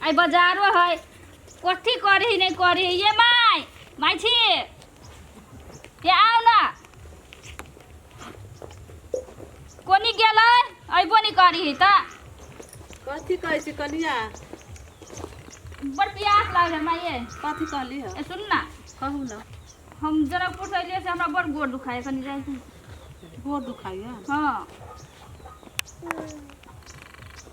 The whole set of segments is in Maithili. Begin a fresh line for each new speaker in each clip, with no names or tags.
आइ बजारो है कथी करही नहि करही ये माय माय छी ये आउ ना कोनी गेलै अयबो नहि करही तऽ कथी कहै छी कनिया बड़ प्यास लागल माय ये कथी कहली ह ए, सुन ना कहू ना हम जनकपुर से अयलियै से हमरा बड़ गोड़ दुखाय कनी जाइ छी गोड़ दुखाइया हाँ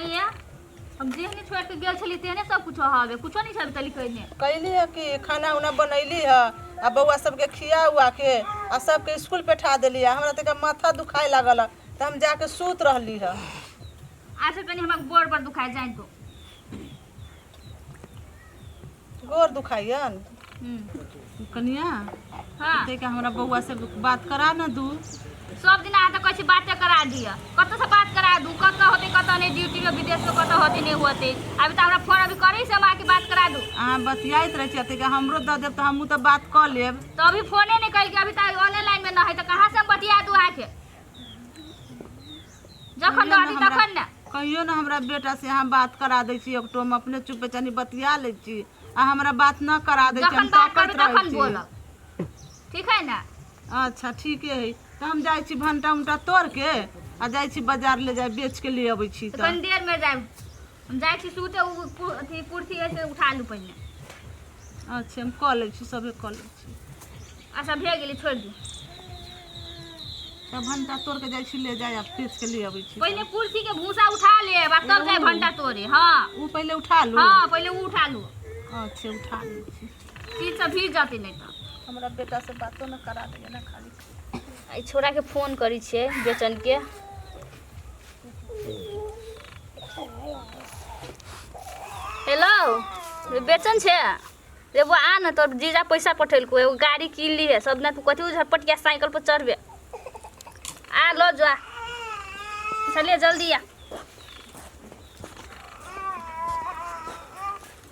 आइया हम जेहने छोड़ के गेल छली तेहने सब कुछ हवे कुछो नहीं छबे तली कहने कैली है कि खाना उना बनैली है आ बौआ सबके खिया उआ के आ सबके स्कूल बैठा देली है हमरा तक माथा दुखाए लागल है तो हम जाके सूत रहली है आज से तनी हमर गोड़ पर दुखाए जाए तो गोर दुखाइयन हम्म, कनिया हाँ ते का हमरा बउआ से बात करा न दू सब दिन अहाँ तऽ कहै छी बाते करा दिअ कतऽ से बात करा दू कतऽ होते कतऽ नहि ड्यूटी में विदेश में कतऽ होते नहीं होते अभी तऽ हमरा फोन अभी करी से हम आके बात करा दू अहाँ बतियाइत रहै छियै ते का हमरो दऽ देब तऽ हमहूँ तऽ बात कऽ लेब तो अभी फोने नहीं कल के अभी तक ऑनलाइन में ना है तो कहाँ से हम बतिया दू आके जखन कहियो रहती ने हमरा- तखन ने कहियो ने हमरा बेटा से अहाँ बात करा दै छी एक टोम अपने चुप बेचानी बतिया लै छी आ हमरा बात न करा दै छी जखन हम बात ताकत करबै रहै तखन छी बोलब ठीक है ने अच्छा ठीके है तऽ हम जाइ छी भंटा उंटा तोड़ के आ जाइ छी बाजार ले जाए बेच के ले अबै छी तऽ तऽ कनी देर में जाए हम जाइ छी सुते उ कु- अथी कुर्सी है से उठा लू पहिने अच्छा हम कऽ लै छी सभे कऽ लै छी अच्छा भए गेली छोड़ि दी तब भंटा तोड़ के जाइ छी ले जाय आब पीस के ले अबै छी पहिले कुर्सी के भूसा उठा लेब आ तब जाय भंटा तोड़े हँ ऊ पहिले उठा लू हँ पहिले ऊ उठा लू अच्छा उठा लै छी चीज सब भीज जाते नहीं तो हमरा बेटा से बातो न करा देगा ना खाली आई छोरा के फोन करी छे बेचन के हेलो रे बेचन छै रे वो आ न तोर जीजा पैसा पठेलको एगो गाड़ी कीन ली है सब ने तू कथी झटपटिया साइकिल पर चढ़बे आ लो जा चलिए जल्दी आ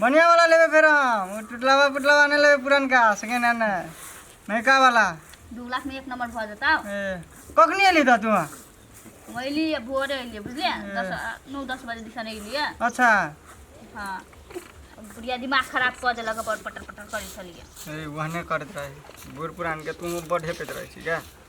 बढ़िया वाला लेबे फेर हम उ टुटलावा पुटलावा नहीं लेबे पुरनका सेकेंड हैंड है नयका वाला दू लाख में एक नंबर भऽ जेतौ ए कखनी एली त तू हम अयली आ भोरे अयली बुझलियै दस नौ दस बजे दिसन अयलियै अच्छा हाँ बुढ़िया दिमाग खराब कऽ देलक अपन पटर पटर करै छलियै ए वहने करत रहे बूढ़ पुरान के तू बढ़े पेत रहे छी क्या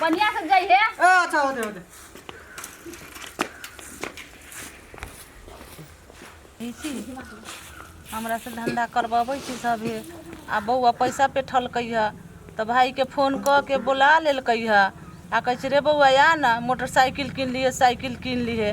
बढ़िया से जाई है ए अच्छा होते होते छी हमरा से धंधा करबबै छी सभे आ बौआ पैसा पे ठलकै है तऽ भाई के फोन कऽ के बोला लेलकै है आ कहै छै रे बौआ आ न मोटरसाइकिल किन लिए साइकिल किन लिए